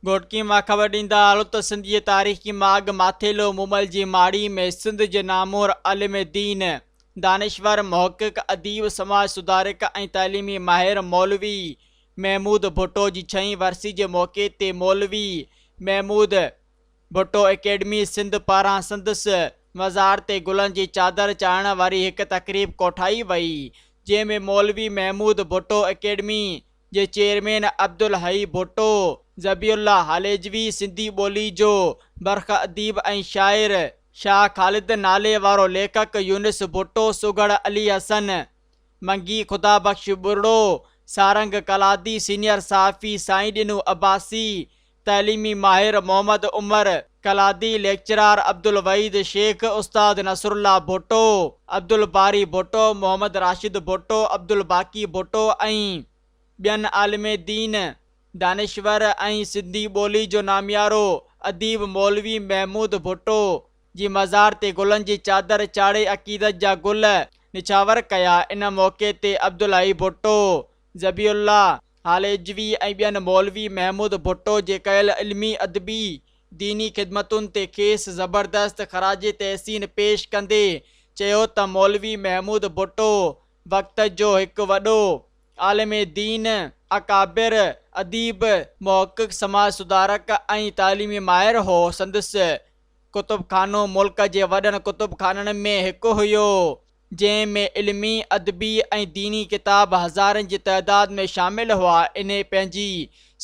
گهوٽڪي مان خبر ڏيندا آهيو ته سنڌ جي تاريخي ماڳ ماٿيلو مومل جي ماڙي ۾ سنڌ جي نامور عالم دين، دانشور، محقق، اديب، سماج سڌارڪ ۽ تعليمي ماهر مولوي محمود ڀٽو جي ڇهين ورسي جي موقعي تي مولوي محمود ڀٽو اڪيڊمي سنڌ پاران سندس مزار تي گلن جي چادر چاڙهڻ واري هڪ تقريب ڪوٺائي وئي جنهن ۾ مولوي محمود ڀٽو اڪيڊمي جي چيئرمين عبدالحئي ڀٽو، ذبيح الله هاليجوي سنڌي ٻولي جو برک اديب ۽ شاعر، شاهه خالد نالي وارو ليکڪ يونس ڀٽو سگهڙ علي حسن منگي خدا بخش ٻرڙو سارنگ قلادي سينيئر صحافي سائين ڏنو عباسي تعليمي ماهر محمد عمر، ڪلادي ليڪچرار عبدالوحيد شيخ، استاد نصرالله ڀٽو، عبدالباري ڀٽو، محمد راشد ڀٽو، عبدالباقي ڀٽو ۽ ٻين عالم دين، دانشور ۽ سنڌي ٻولي جو ناميارو اديب مولوي محمود ڀٽو جي مزار تي گلن جي چادر چاڙهي عقيدت جا گل نڇاور ڪيا ان موقعي تي عبدالحئي ڀٽو ذبيح الله هاليجوي ۽ ٻين مولوي محمود ڀٽو جي ڪيل علمي، ادبي، ديني خدمتن تي کيس زبردست خراج تحسين پيش ڪندي چيو ته مولوي محمود ڀٽو وقت جو هڪ وڏو عالم دين، اڪابر، اديب، محقق، سماج سڌارڪ ۽ تعليمي ماهر هو، سندس ڪتب خانو ملڪ جي وڏن ڪتب خانن ۾ هڪ هيو. جنهن ۾ علمي، ادبي ۽ ديني ڪتاب هزارين جي تعداد ۾ شامل هئا، انهي پنهنجي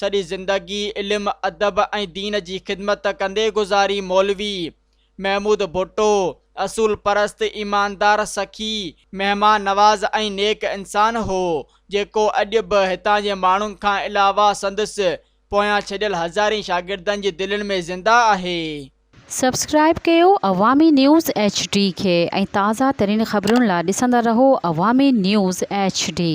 سڄي زندگي علم، ادب ۽ دين جي خدمت ڪندي گذاري مولوي محمود ڀٽو اصول پرست، ايماندار، سخي، مهمان نواز ۽ نيڪ انسان هو، جيڪو اڄ به هتان جي ماڻهن کان علاوه سندس پويان ڇڏيل هزارين شاگردن جي دلين ۾ زنده آهي. سبسڪرائيب ڪيو عوامي نيوز ايڇ ڊي کي ۽ تازه ترين خبرن لا ڏسندا رهو عوامي نيوز ايڇ ڊي.